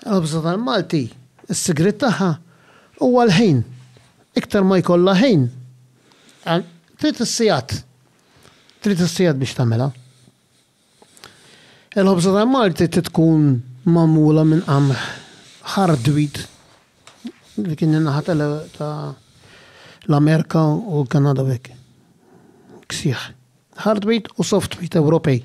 Il-ħobża tal-Malti, is-sigriet tagħha huwa l-ħin. Iktar ma jkollha ħin, trid is-sigħat. Trid is-sigħat biex tagħmilha. Il-ħobża tal-Malti trid tkun magħmula minn qamħ hard wheat, dik in-naħa ta' l-Amerika u l-Kanada u hekk. Ksieħ. Hard wheat u soft wheat Ewropej.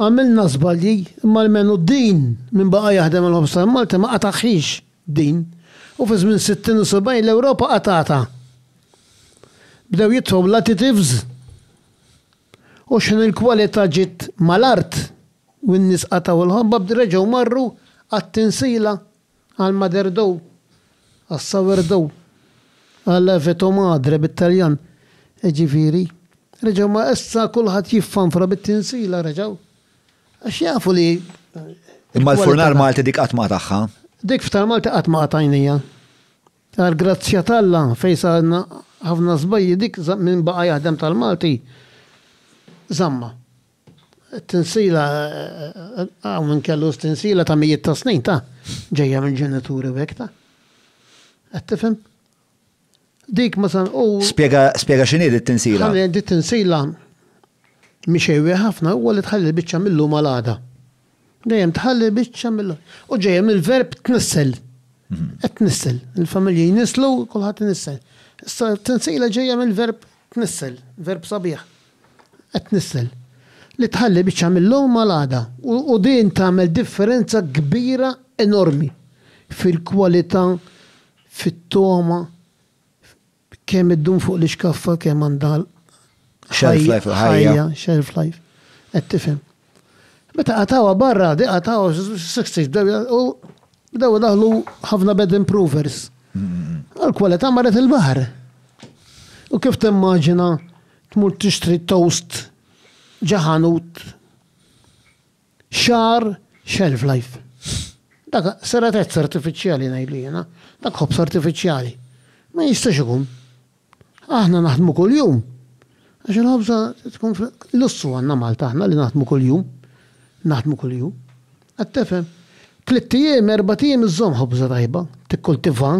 Għamilna żbalji, imma almenu din min baqa' jaħdem għall-ħobż tal-Malti ma qatagħhiex din u fi żmien sittin u sebgħin l-Ewropa qatgħatha. Bdew jidħlu l-additives u xħin il-kwalità ġiet mal-art u n-nies qatgħu l-ħobba reġgħu marru għat-tinsila għall-Maderdow, għas-Sourdough, għal Veto Madre bit-Taljan, jiġifieri, reġgħu ma issa kulħadd jiffanfra bit-tinsila reġgħu. Għax jafu li. Imma l-furnar Malti dik qatt ma tagħha. Dik f'tal Malti qatt ma qatajnija. Għal grazzja talla fejn sarna ħafna żbajji dik minn baqa' jaħdem tal-Malti. Zamma. Tinsila, hawn min kellu tinsila ta' mijiet ta' snin ta' ġejja minn ġenituri u hekk ta'. Qed tifhem? Dik masan u. Spjega spjega x'inhi di t-tinsila. Di t-tinsila mhix ħafna huwa li tħalli l-biċċa mil-lum għal għada. Dejjem tħalli biċċa mill U ġejja mill-verb tnissel. Qed tnissel. Il-familji jnisslu, kulħadd inissel. Issa t-tinsiela ġejja mill-verb tnissel, verb sabiħ. Qed tnissel. Li tħalli biċċa mill-lum għal għada. U din tagħmel differenza kbira enormi fil-kwalità, fit-togħma, Kemm iddum fuq l-ixkaffa kemm għandha Shelf life il-ħajja. ħajja, shelf life. Qed tifhem. Meta qatgħuha barra, di qatgħuha s-sixties bdew u bdew idaħħlu ħafna bed improvers. U l-kwalità marret il-baħar. U kif timmaġina tmur tixtri toast ġo ħanut? Xahar shelf life. Dak seratezza artifiċjali ngħidlu jiena, dak ħobż artifiċjali. Ma jistax ikun. Aħna naħdmu kuljum. Għax il-ħobża tkun lussu għandna Malta aħna li naħdmu kuljum. Naħdmu kuljum. Qed tifhem? Tlitt ijiem, erbat ijiem iżżomm ħobża tajba, tikkultivha.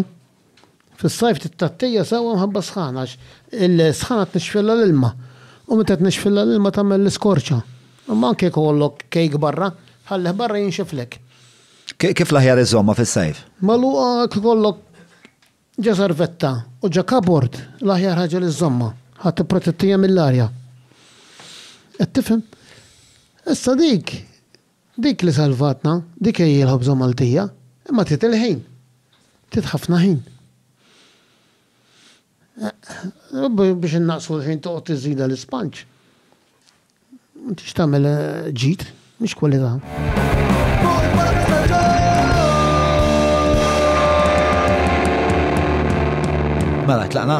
Fis-sajf titgħattija sewwa mħabba s-sħana għax il-sħana tnixxfilha l-ilma u meta tnixxfilha l-ilma tagħmel l-iskorċa. Imma anke jekk ikollok kejk barra, tħallih barra jinxiflek. Kif l-aħjar iżżommha fis-sajf? Magħluqa jekk ikollok ġo servetta u ġo cupboard, l-aħjar ħaġa li żżommha. Ħa tipprotettija mill-arja. Qed tifhem? Issa dik Dik li salvatna, dik hi l-ħobża Maltija, imma trid il-ħin. Trid ħafna ħin. Biex innaqqsu l-ħin toqgħod iżżidha l-ispanġ. M'intix tagħmel ġid, mhix kwalità. Mela, tlaqna?